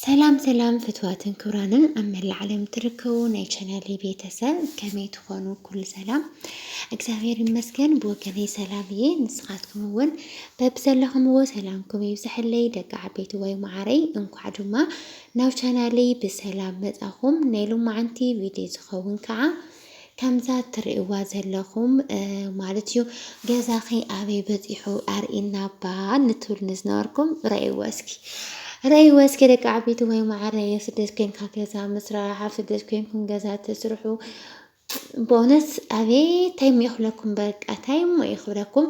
ሰላም ሰላም ፍትዋትን ክብራንን ኣብ መላእ ዓለም ትርከቡ ናይ ቻናሌ ቤተሰብ ከመይ ትኾኑ? ኩሉ ሰላም እግዚኣብሔር ይመስገን። ብወገነይ ሰላም እየ። ንስኻትኩም እውን በብዘለኹምዎ ሰላምኩም ይብዝሐለይ ደቂ ዓበይቲ ወይ መዓረይ። እንኳዕ ድማ ናብ ቻናሌ ብሰላም መጻኹም። ናይ ሎማዓንቲ ቪድዮ ዝኸውን ከዓ ከምዛ ትርእይዋ ዘለኹም ማለት እዩ ገዛኺ ኣበይ በጺሑ ኣርእና እባ ንትብል ንዝነበርኩም ረእይዎ እስኪ ረእይዎ እስኪ ደቂ ዓበይቲ ወይ ማዕረ የስደት ኮንካ ገዛ ምስራሕ ኣብ ስደት ኮንኩም ገዛ ተስርሑ በእውነት ኣቤት ታይም ይኽለኩም በቃ ታይም ይኽብለኩም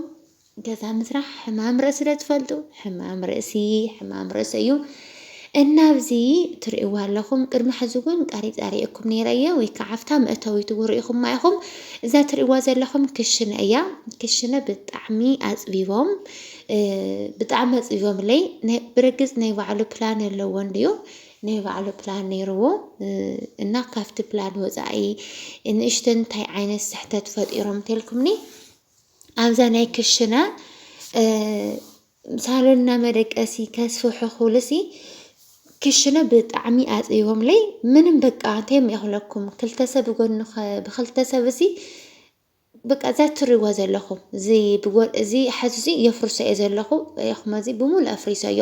ገዛ ምስራሕ ሕማም ርእሲ ዶ ትፈልጡ? ሕማም ርእሲ ሕማም ርእሲ እዩ። እና ኣብዚ ትርእይዋ ኣለኹም ቅድሚ ሕዚ እውን ቀሪፃ ሪኤኩም ነይረ እየ ወይ ከዓ ኣብታ መእተዊት እውን ሪኢኹማ ኢኹም። እዛ ትርእይዋ ዘለኹም ክሽነ እያ። ክሽነ ብጣዕሚ ኣፅቢቦም ብጣዕሚ ኣፅቢቦምለይ ናይ ብርግፅ ናይ ባዕሉ ፕላን ኣለዎ እንድዩ ናይ ባዕሉ ፕላን ነይርዎ እና ካብቲ ፕላን ወፃኢ ንእሽተን እንታይ ዓይነት ስሕተት ፈጢሮም እንተልኩምኒ ኣብዛ ናይ ክሽነ ሳሎንና መደቀሲ ከስፍሑ ክብሉሲ ክሽነ ብጣዕሚ ኣፅቢቦምለይ ምንም በቃ እንታይ ይኽለኩም ክልተ ሰብ ጎኒ ብክልተ ሰብ እዚ በቃ እዛ እትሪእዎ ዘለኹም እዚ ብጎ እዚ ሓዚ እዚ የፍርሶ እየ ዘለኹ ሪኢኹሞ እዚ ብምሉእ ኣፍሪሰዮ።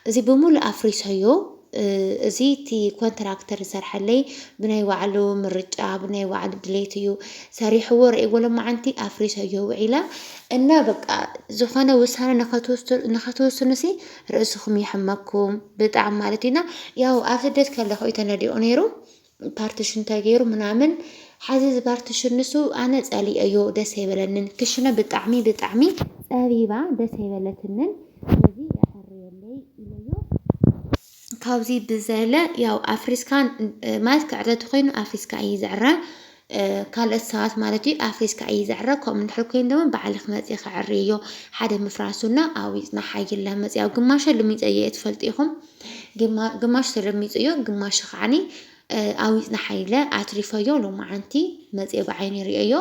እዚ ብምሉእ ኣፍሪሰዮ እዚ እቲ ኮንትራክተር ዝሰርሐለይ ብናይ ባዕሉ ምርጫ ብናይ ባዕሉ ድሌት እዩ ሰሪሕዎ ርኤዎ ሎማዓንቲ ኣፍሪሰዮ ውዒለ እና በቃ ዝኾነ ውሳነ ንኸትውስኑሲ ርእስኹም ይሕመኩም ብጣዕሚ ማለት እዩና ያው ኣብ ስደት ከለኹ እዩ ተነዲቑ ነይሩ ፓርትሽን ተገይሩ ምናምን ሐዚ እዚ ፓርትሽን ንሱ ኣነ ፀሊኤዮ ደስ ኣይበለንን ክሽነ ብጣዕሚ ብጣዕሚ ፀቢባ ደስ ኣይበለትንን ስለዚ የዐርየለይ ኢለዮ ካብዚ ብዘለ ያው ኣፍሪስካ ማለት ክዕረ ተኮይኑ ኣፍሪስካ እዩ ዝዕረ ካልኦት ሰባት ማለት እዩ ኣፍሪስካ እዪ ዝዕረ ከምኡ እንድሕር ኮይኑ ድማ ባዕልኪ መፂኪ ዕርይዮ ሓደ ምፍራሱ እና ኣዊፅና ሓይለ መፂ ኣብ ግማሸ ልሚፀ እየ ትፈልጡ ኢኩም ግማ ግማሽ ተለሚፁ እዮ ግማሽ ከዓኒ ኣዊፅና ሓይለ ኣትሪፈዮ ሎማዓንቲ መፂ ብዓይኒ ርእዮ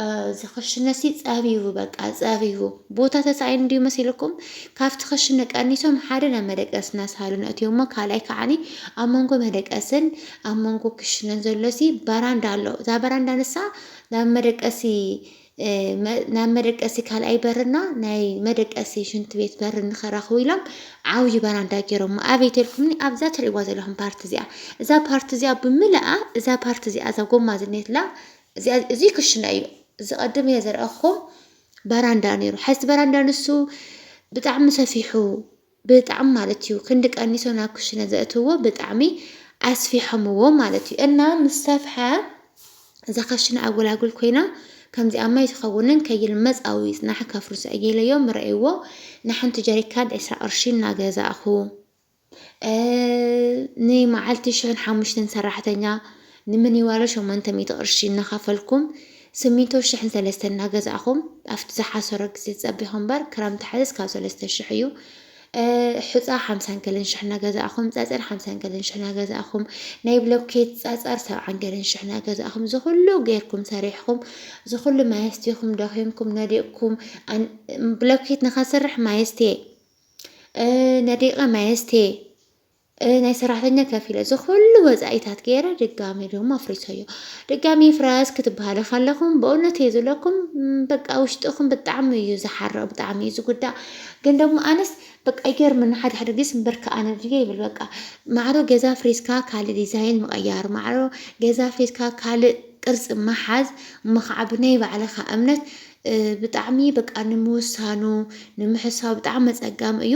እዚ ክሽነሲ ፀቢቡ በቃ ፀቢቡ ቦታ ተሳኢኑ እንዲዩ መሲልኩም ካብቲ ክሽነ ቀኒሶም ሓደ ናብ መደቀሲ እናሳሉ ነእትዮሞ ካልኣይ ከዓኒ ኣብ መንጎ መደቀስን ኣብ መንጎ ክሽነ ዘሎሲ በራንዳ ኣሎ። እዛ በራንዳ ንሳ ናብ መደቀሲ ናብ መደቀሲ ካልኣይ በርና ናይ መደቀሲ ሽንቲ ቤት በርን ንኸራኽቡ ኢሎም ዓብዪ በራንዳ ገይሮሞ ኣበይ ተልኩምኒ ኣብዛ ትርእይዋ ዘለኹም ፓርቲ እዚኣ እዛ ፓርቲ እዚኣ ብምልኣ እዛ ፓርቲ እዚኣ እዛ ጎማ ዝኔትላ እዚ ክሽነ እዩ እዚ ቀድም እየ ዘርኣኹም በራንዳ ነይሩ ሓዚ በራንዳ ንሱ ብጣዕሚ ሰፊሑ ብጣዕሚ ማለት እዩ ክንዲ ቀኒሶ ናብ ክሽነ ዘእትውዎ ብጣዕሚ ኣስፊሖምዎ ማለት እዩ እና ምስ ሰፍሐ እዛ ከሽነ ኣጎላጉል ኮይና ከምዚኣ ማይ ዝኸውንን ከይል መጻዊ ይጽናሕ ከፍርሱ ኣየለዮም ረእይዎ ንሓንቲ ጀሪካን ዕስራ ቅርሺ እናገዛእኹ ንመዓልቲ ሽሕን ሓሙሽተን ሰራሕተኛ ንምኒዋሎ ሸሞንተ ሚእቲ ቅርሺ እናኸፈልኩም ስሚንቶ ሽሕን ሰለስተን እናገዛእኹም ኣብቲ ዝሓሰሮ ግዜ ትጸቢኹ እምበር ክረምቲ ሓዘስ ካብ ሰለስተ ሽሕ እዩ ሑጻ ሓምሳን ገለን ሽሕ እናገዛእኹም ጸጸር ሓምሳን ገለን ሽሕ እናገዛእኹም ናይ ብሎኬት ጸጸር ሰብዓን ገለን ሽሕ እናገዛእኹም ዝኹሉ ጌርኩም ሰሪሕኹም ዝኹሉ ማየስቲኹም ደኺምኩም ነዲቕኩም ብሎኬት ንኸስርሕ ማየስቴ ነዲቐ ማየስቴ ናይ ሰራሕተኛ ከፊለ እዚ ኩሉ ወጻኢታት ገይረ ድጋሚ ደሞ ኣፍሪሰዮ ድጋሚ ይፍረስ ክትበሃሉ ከለኹም በእውነት እየ ዝብለኩም በቃ ውሽጥኹም ብጣዕሚ እዩ ዝሓርቕ ብጣዕሚ እዩ ዝጉዳእ ግን ደሞ ኣነስ በቃ ይገርመኒ ሓደ ሓደ ግዜ ስምበርካ ኣነ ድየ ይብል በቃ ማዕሮ ገዛ ፍሪስካ ካልእ ዲዛይን ምቕያር ማዕሮ ገዛ ፍሪስካ ካልእ ቅርፂ ምሓዝ እሞ ከዓ ብናይ ባዕልኻ እምነት ብጣዕሚ በቃ ንምውሳኑ ንምሕሳው ብጣዕሚ መፀጋሚ እዩ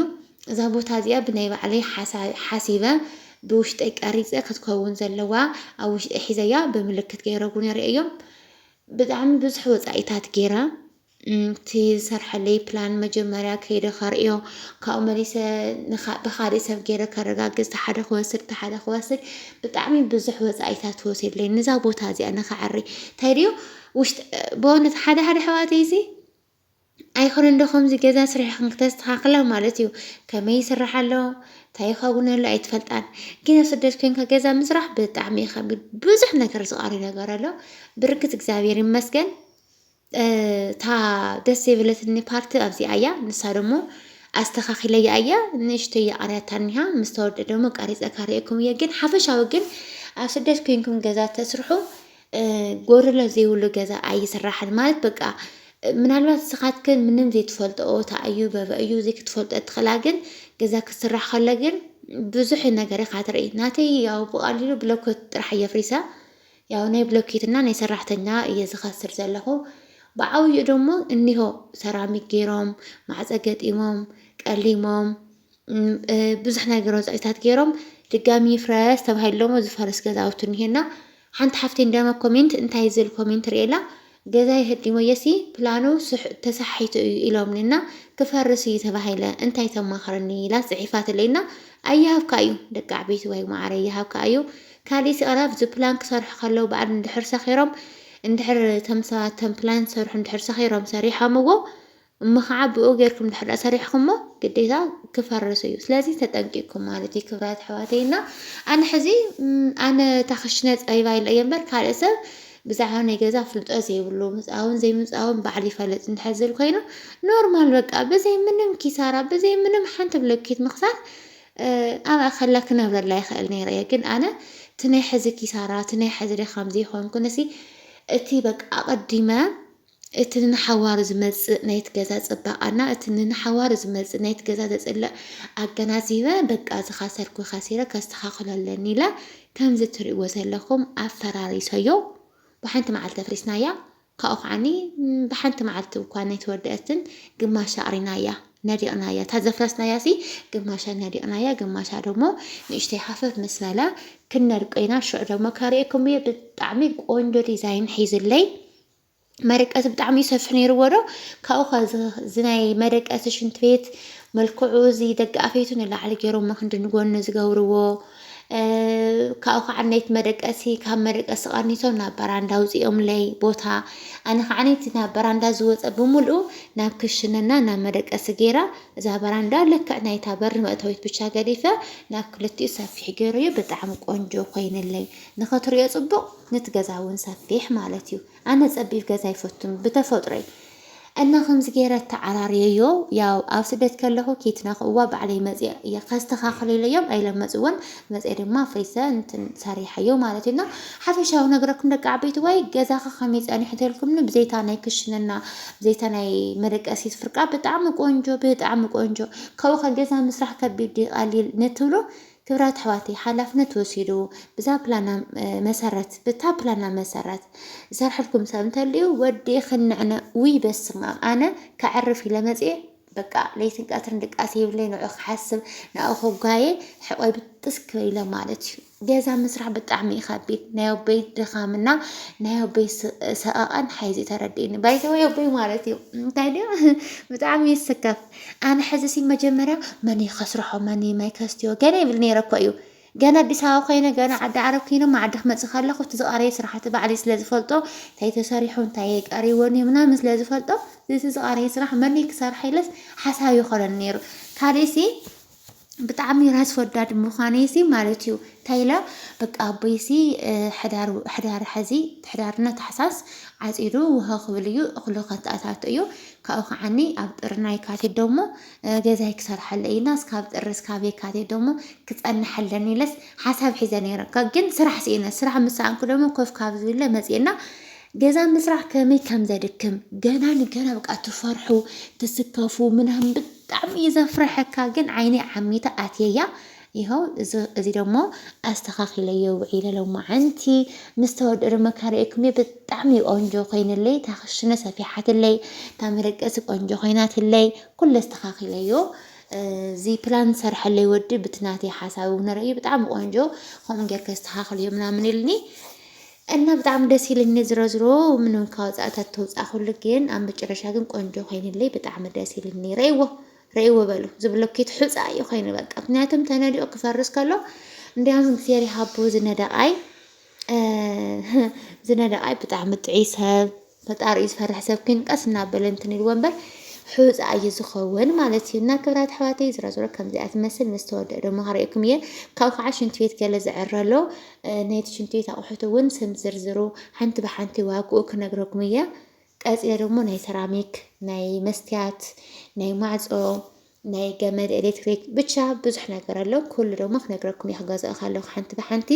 እዛ ቦታ እዚኣ ብናይ ባዕለይ ሓሳብ ሓሲበ ብውሽጠይ ቀሪፀ ክትከውን ዘለዋ ኣብ ውሽጠይ ሒዘያ ብምልክት ገይረ እውን የርእየዮ ብጣዕሚ ብዙሕ ወፃኢታት ገይረ እቲ ዝሰርሐለይ ፕላን መጀመርያ ከይደ ከርእዮ ካብኡ መሊሰ ብካሊእ ሰብ ገይረ ከረጋግፅ ተሓደ ክወስድ ተሓደ ክወስድ ብጣዕሚ ብዙሕ ወፃኢታት ተወሲድለይ ንዛ ቦታ እዚኣ ንክዕሪ እንታይ ድዩ ውሽጢ በእውነት ሓደ ሓደ ኣሕዋተይሲ ኣይኮነን ዶ ከምዚ ገዛ ስሪሕክን ክተስተኻኽላ ማለት እዩ ከመይ ይስራሕ ኣሎ እንታይ ይኸውን ኣሎ ኣይትፈልጣን ግን ኣብ ስደት ኮንካ ገዛ ምስራሕ ብጣዕሚ እዩ ከቢድ ብዙሕ ነገር ዝቐሪ ነገር ኣሎ ብርግፅ እግዚኣብሔር ይመስገን እታ ደስ የብለትኒ ፓርቲ ኣብዚኣ እያ ንሳ ደሞ ኣስተኻኺለያ እያ ንእሽተይ ኣርያታ እኒሃ ምስ ተወልደ ደሞ ቀሪፀ ከርእየኩም እየ ግን ሓፈሻዊ ግን ኣብ ስደት ኮይንኩም ገዛ ተስርሑ ጎረሎ ዘይብሉ ገዛ ኣይስራሕን ማለት በቃ ምናልባት ንስኻትክን ምንም ዘይትፈልጥኦ እታ እዩ በበ እዩ እዚ ክትፈልጦ እትኽእላ ግን ገዛ ክስራሕ ከሎ ግን ብዙሕ ነገር ኢኻ ትርኢ ናተይ ያው ብቐሊሉ ብሎኮት ጥራሕ እየ ፍሪሳ ያው ናይ ብሎኬትና ናይ ሰራሕተኛ እየ ዝኸስር ዘለኹ ብዓብዩ ደሞ እኒሆ ሰራሚክ ገይሮም ማዕፀ ገጢሞም ቀሊሞም ብዙሕ ነገር ወፃኢታት ገይሮም ድጋሚ ይፍረስ ተባሂሉ ደሞ ዝፈርስ ገዛውቲ እኒሀና ሓንቲ ሓፍቲ እንደሞ ኮሜንት እንታይ ዝል ኮሜንት ርእላ ገዛ የህዲሞ የሲ ፕላኑ ተሳሒቱ እዩ ኢሎምኒ እና ክፈርስ እዩ ተባሂለ እንታይ ተማኽረኒ ኢላ ፅሒፋትለይ እና ኣይሃብካ እዩ ደቂ ዓበይቲ ወይ ማዕረ ይሃብካ እዩ ካልእ ስቕራ ኣብዚ ፕላን ክሰርሑ ከለዉ በዓል እንድሕር ሰኺሮም እንድሕር ተም ሰባት ተም ፕላን ዝሰርሑ እንድሕር ሰኺሮም ሰሪሖምዎ እሞ ኸዓ ብኡ ገርኩም እንድሕር ሰሪሕኹሞ ግዴታ ክፈርስ እዩ ስለዚ ተጠንቂቅኩም ማለት እዩ ክብራት ኣሕዋተይ እና ኣነ ሕዚ ኣነ እታ ክሽነ ፀቢባ ኢለ እየ እምበር ካልእ ሰብ ብዛዕባ ናይ ገዛ ፍልጦ ዘይብሉ ምፃውን ዘይምፃውን ባዕሉ ይፈልጥ እንድሕር ዝብል ኮይኑ ኖርማል በቃ ብዘይ ምንም ኪሳራ ብዘይ ምንም ሓንቲ ብሎኬት ምኽሳር ኣብኣ ከላ ክነብረላ ይኽእል ነይረ እየ ግን ኣነ እቲ ናይ ሕዚ ኪሳራ እቲ ናይ ሕዚ ድኻም ዘይኮንኩ ነሲ እቲ በቃ ኣቐዲመ እቲ ንንሓዋሩ ዝመጽእ ናይቲ ገዛ ጽባቐ እና እቲ ንንሓዋሩ ዝመጽእ ናይቲ ገዛ ዘጽልእ ኣገናዚበ በቃ ዝኸሰርኩ ከሲረ ከስተኻኽሎ ኣለኒ ኢለ ከምዚ እትርእይዎ ዘለኹም ኣፈራሪሰዮ ብሓንቲ መዓልቲ ኣፍሪስናያ ካብኡ ከዓኒ ብሓንቲ መዓልቲ እኳ ነይተወደኣትን ግማሻ ኣቕሪናያ ነዲቕናያ እታ ዘፍረስናያሲ ግማሻ ነዲቕናያ ግማሻ ደሞ ንእሽተይ ሃፈፍ ምስ በለ ክንነድቆ ኢና ሽዑ ደሞ ከርእየኩም እየ ብጣዕሚ ቆንጆ ዲዛይን ሒዙለይ መደቀሲ ብጣዕሚ እዩ ሰፊሕ ነይርዎ ዶ ካብኡ ከ እዚ ናይ መደቀሲ ሽንት ቤት መልክዑ እዚ ደቂ ኣፌቱ ንላዕሊ ገይሮሞ ክንዲ ንጎኒ ዝገብርዎ ካብኡ ከዓ ናይቲ መደቀሲ ካብ መደቀሲ ቀኒሶም ናብ በራንዳ ኣውፂኦምለይ ቦታ ኣነ ከዓ እቲ ናብ በራንዳ ዝወፀ ብምልኡ ናብ ክሽነና ናብ መደቀሲ ገይራ እዛ በራንዳ ልክዕ ናይታ በሪ መእተዊት ብቻ ገዲፈ ናብ ክልቲኡ ሰፊሕ ገይረዮ ብጣዕሚ ቆንጆ ኮይነለይ ንክትሪኦ ፅቡቅ ንቲ ገዛ ውን ሰፊሕ ማለት ዩ ኣነ ጸቢብ ገዛ ኣይፈቱን ብተፈጥሮይ እና ከምዚ ገይረ ኣተዓራርየዮ ያው ኣብ ስደት ከለኹ ከይትነክእዋ ባዕለይ መጽየ እየ ከስተኻኽሉ ኢለዮም ኣይለ መጽወን መጽየ ድማ ፍሪሰ እንትን ሰሪሓዮ ማለት ዩ እና ሓፈሻዊ ነግረኩም ደቂ ዓበይቲ ወይ ገዛኻ ከመይ ጸኒሑ ተልኩምኒ ብዘይታ ናይ ክሽንና ብዘይታ ናይ መደቀሲት ፍርቃ ብጣዕሚ ቆንጆ ብጣዕሚ ቆንጆ ካብኡ ከ ገዛ ምስራሕ ከቢድ ድዩ ቀሊል ንትብሉ ክብራት ኣሕዋተይ ሓላፍነት ወሲዱ ብዛ ፕላና መሰረት ብታ ፕላና መሰረት ዝሰርሐልኩም ሰብ እንተልዩ ወዲ ክንዕነ ውይ በስማም ኣነ ከዕርፍ ኢለ መፅኤ በቃ ለይትን ቀትርን ድቃስ ይብለይ ንዑ ክሓስብ ንኡ ከጓየ ሕቆይ ብጥስ ክበይለ ማለት እዩ ገዛ ምስራሕ ብጣዕሚ እዩ ከቢድ ናይ ኣቦይ ድኻምና ናይ ኣቦይ ሰቐቐን ሓይዚ ተረዲእኒ ባይዘወይ ኣቦይ ማለት እዩ እንታይ ድዩ ብጣዕሚ ይስከፍ ኣነ ሕዚሲ መጀመርያ መን እዩ ከስርሖ መን እዩ ማይ ከስትዮ ገለ ይብል ነይረ እኮ እዩ ገና ኣዲስ ኣበባ ኮይነ ገና ዓዲ ዓረብ ኪነ ዓዲ ክመፅእ ከለኹ እቲ ዝቐረየ ስራሕቲ ባዕለይ ስለ ዝፈልጦ እንታይ ተሰሪሑ እንታይ ቀሪዎን እዩ ምናምን ስለ ዝፈልጦ እቲ ዝቐረየ ስራሕ መን እዩ ክሰርሐ ኢለስ ሓሳብ ይኾነኒ ነይሩ ካሊእሲ ብጣዕሚ ራስ ወዳድ ምዃነይሲ ማለት እዩ እንታይ ኢለ በቃ ኣቦይሲ ሕዳር ሐዚ ሕዳርና ታሕሳስ ዓፂዱ ውሃ ክብል እዩ እኽሉ ከታኣታቶ እዩ ካብኡ ከዓኒ ኣብ ጥርና የካቲት ደሞ ገዛይ ክሰርሓለ እዩና እስካብ ጥሪ እስካብ የካቲት ደሞ ክፀንሐለን ኢለስ ሓሳብ ሒዘ ነይረ ግን ስራሕ ስኢነ ስራሕ ምስ ሰኣንኩ ደሞ ኮፍ ካብ ዝብለ መፅኤና ገዛ ምስራሕ ከመይ ከም ዘድክም ገና ንገና በቃ ትፈርሑ ትስከፉ ምናምን ብጣዕሚ እዩ ዘፍረሐካ ግን ዓይነይ ዓሚተ ኣትየያ ይኸው እዚ ደሞ ኣስተኻኺለዮ ውዒለ ሎማዓንቲ ምስ ተወድኡ ድማ ካርእየኩም እየ ብጣዕሚ ቆንጆ ኮይንለይ እታ ክሽነ ሰፊሓትለይ እታ መደቀሲ ቆንጆ ኮይናትለይ ኩለ ኣስተኻኺለዮ እዚ ፕላን ዝሰርሐለይ ወዲ ብትናተይ ሓሳብ እውን ረእዩ ብጣዕሚ ቆንጆ ከምኡ ጌርካ ኣስተኻኽልዮ ምናምን ኢልኒ እና ብጣዕሚ ደስ ኢልኒ ዝሮዝሮ ምንም ካብ ወፃእታት ተውፃእ ኩሉ ግን ኣብ መጨረሻ ግን ቆንጆ ኮይንለይ ብጣዕሚ ደስ ኢልኒ ረይዎ ረይዎ በሉ ዝብሎ ኪት ሑፃ እዩ ኮይኑ በቃ ምክንያቱም ተነዲኦ ክፈርስ ከሎ እንዲያውም እግዚኣብሔር ይሃቦ ዝነደቃይ ዝነደቃይ ብጣዕሚ ጥዑይ ሰብ ፈጣሪ እዩ ዝፈርሕ ሰብ ግን ቀስ እናበለ እንትን ኢልዎ እምበር ሕውፅ ኣዩ ዝኸውን ማለት እዩ እና ክብራት ኣሕዋተይ ዝሮ ዝሮ ከምዚኣ ትመስል ምስ ተወደእ ደሞ ከርእየኩም እየ ካብኡ ከዓ ሽንቲ ቤት ገለ ዝዕረ ኣሎ ናይቲ ሽንቲ ቤት ኣቑሑት እውን ስም ዝርዝሩ ሓንቲ ብሓንቲ ዋግኡ ክነግረኩም እየ ቀፂለ ደሞ ናይ ሰራሚክ ናይ መስትያት ናይ ማዕፆ ናይ ገመድ ኤሌክትሪክ ብቻ ብዙሕ ነገር ኣሎ ኩሉ ደሞ ክነግረኩም እየ ክገዝኦ ከለኩ ሓንቲ ብሓንቲ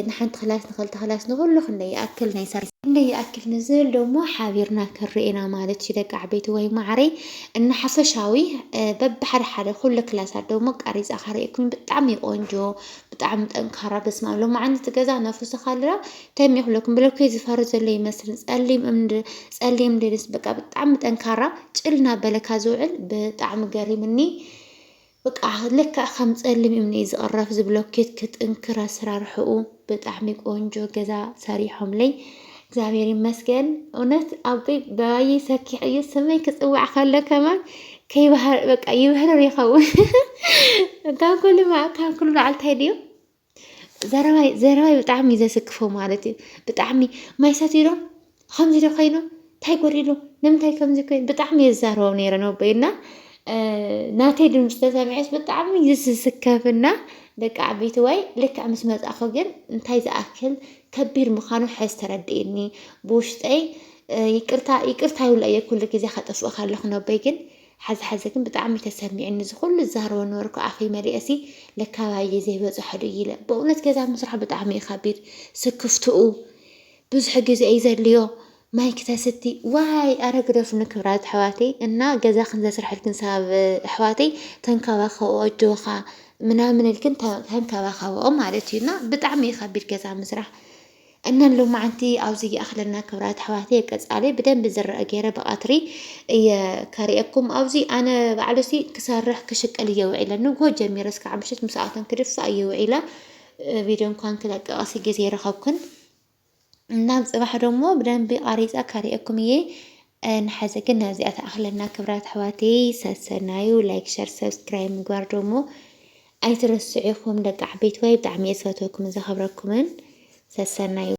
ንሓንቲ ክላስ ንክልተ ክላስ ንኩሉ ክንደይ ይኣክል ናይ ሰር ክንደይ ይኣክል ንዝብል ደሞ ሓቢርና ክንርኤና ማለት እዩ ደቂ ዓበይቲ ወይ ማዕረይ እና ሓፈሻዊ በብሓደ ሓደ ኩሉ ክላሳት ደሞ ቀሪፃ ካርእኩም ብጣዕሚ ቆንጆ ብጣዕሚ ጠንካራ በስማ ሎማዓንቲ ገዛ ነፍርሶ ካለና ከመይ ክብሎ ክምብለኩይ ዝፈሪ ዘሎ ይመስል ጸሊም እምኒ ጸሊም ድንስ በቃ ብጣዕሚ ጠንካራ ጭል እናበለካ ዝውዕል ብጣዕሚ ገሪምኒ በቃ ልክዕ ከም ጸሊም እምኒ እዩ ዝቕረፍ ዝብሎኬት ክጥንክር ኣሰራርሕኡ ብጣዕሚ ቆንጆ ገዛ ሰሪሖምለይ እግዚኣብሔር ይመስገን። እውነት ኣቦይ በባይ ሰኪሕ እዩ ስመይ ክፅዋዕ ከሎ ከማን ከይባህር በቃ ይብህርር ይኸውን ካብ ኩሉ ካብ ኩሉ በዓልታይ ድዩ ዘረባይ ዘረባይ ብጣዕሚ እዩ ዘስክፎ ማለት እዩ። ብጣዕሚ ማይ ሰትዩ ዶ ከምዚ ዶ ኮይኑ እንታይ ጎዲሉ ንምንታይ ከምዚ ኮይኑ ብጣዕሚ እየ ዝዛረቦም ነይረ ነቦይና ናተይ ድምፂ ተሰሚዐስ ብጣዕሚ እዩ ዝስከፍና ደቂ ዓበይቲ ወይ ልክዕ ምስ መፃእኹ ግን እንታይ ዝኣክል ከቢድ ምዃኑ ሕዝ ተረድእኒ ብውሽጠይ ይቅርታ ይቅርታ ይብሎ እየ ኩሉ ግዜ ከጠፍእ ከለኹ ነቦይ ግን ሐዚ ሐዚ ግን ብጣዕሚ እዩ ተሰሚዑኒ እዚ ኩሉ ዝዛረቦ ነበርኩ ኣፈይ መሊኤሲ ለካ ኣባየ ዘይበፅሖ ዶ ኢለ በእውነት ገዛ ምስራሕ ብጣዕሚ እዩ ከቢድ ስክፍትኡ ብዙሕ ግዜ እዩ ዘድልዮ ማይ ክተስቲ ዋይ ኣረ ግደፉኒ ክብራት ኣሕዋተይ እና ገዛ ክንዘስርሐልክን ሳብ ኣሕዋተይ ተንከባኸብኦ ኣጆኻ ምናምን ኢልክን ተንከባኸብኦ ማለት እዩ እና ብጣዕሚ እዩ ከቢድ ገዛ ምስራሕ እና ሎማዓንቲ ኣብዚ ይኣክለና ክብራት ኣሕዋተይ ቀፃሊ ብደንቢ ዝረአ ገይረ ብቀትሪ እየ ከርእየኩም ኣብዚ ኣነ ባዕሉሲ ክሰርሕ ክሽቅል እየ ውዒለ ንግሆ ጀሚረ እስካዕ ምሽት ምስኣቶም ክድፋእ እየ ውዒለ ቪድዮ እንኳን ክለቀቀሲ ግዜ ረኸብኩን እናም ፅባሕ ደሞ ብደንቢ ቃሪፀ ከርእየኩም እየ ንሓዘ ግን ናብዚኣ ትኣኽለና ክብራት ኣሕዋተይ ሰሰናዩ ላይክ ሸር ሰብስክራይብ ምግባር ደሞ ኣይትረስዑ ኢኹም ደቂ ዓበይትዋይ ብጣዕሚ እየ ዝፈትወኩምን ዘኸብረኩምን ሰሰናዩ